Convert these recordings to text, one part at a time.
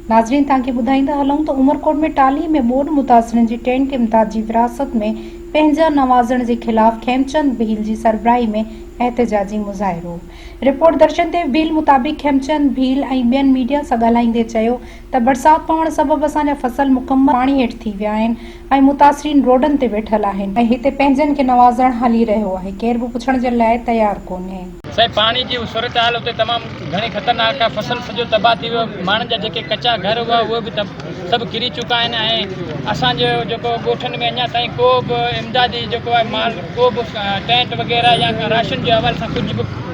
ناظرين توهان کي ٻڌائيندا هلون ته عمرڪوٽ ۾ ٽالهي ۾ ٻوڏ متاثرين جي ٽينٽ امداد جي ورهاست ۾ پنهنجا نوازڻ جي خلاف کيمچند ڀيل جي سربراهي ۾ احتجاجي مظاهرو رپورٽ درشن ديو ڀيل مطابق کيمچند ڀيل ۽ ٻين ميڊيا سان ڳالهائيندي چيو ته برسات پوڻ سبب اسان جا فصل مڪمل پاڻي هيٺ ٿي ويا آهن ۽ متاثرين روڊن تي ويٺل آهن ۽ هتي پنهنجن کي نوازڻ هلي رهيو آهي ڪير به پڇڻ جي لاء تيار ڪونهي. سائين پاڻي جي صورتحال اتي تمام گهڻي خطرناڪ آهي فصل سڄو تباهه ٿي ويو ماڻهن جا جيڪي ڪچا گهر هئا اهي به سڀ ڪري چڪا آهن ۽ اسان جو جيڪو ڳوٺن ۾ اڃا تائين ڪو به امدادي جيڪو آهي مال ڪو به ٽينٽ وغيره يا راشن جي حوالي سان ڪجهه به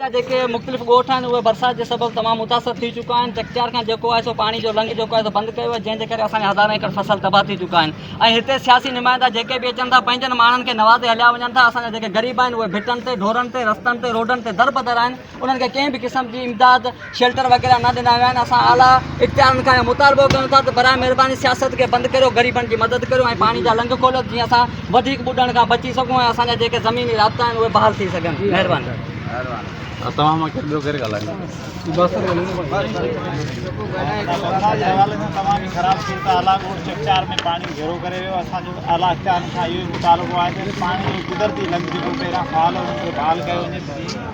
جا جيڪي مختلف ڳوٺ آهن اهي برسات جي سبب تمام متاثر ٿي چڪا آهن چڪچار کان جيڪو آهي سو پاڻي جو لنگهه جيڪو آهي سو بند ڪيو آهي جنهن جي ڪري اسان جا هزارين ايڪڙ فصل تباهه ٿي چڪا آهن ۽ هتي سياسي نمائندا جيڪي به اچن ٿا پنهنجن ماڻهن کي نوازي هليا وڃن ٿا اسان جا جيڪي غريب آهن اهي ڀٽن تي ڍورن تي رستن تي روڊن تي دربدر آهن انهن کي ڪنهن به قسم جي امداد شيلٽر وغيره نه ڏنا ويا آهن اسان اعليٰ اختيارن کان اهو مطالبو ڪيون ٿا ته برائي مهرباني سياست کي بند ڪريو غريبن جي مدد ڪريو ۽ پاڻي جا لنگ کوليو جيئن اسان وڌيڪ ٻڏڻ کان بچي سگهون ۽ اسان جا جيڪي زميني رابطا آهن اهي بحال ٿي سگهن مهرباني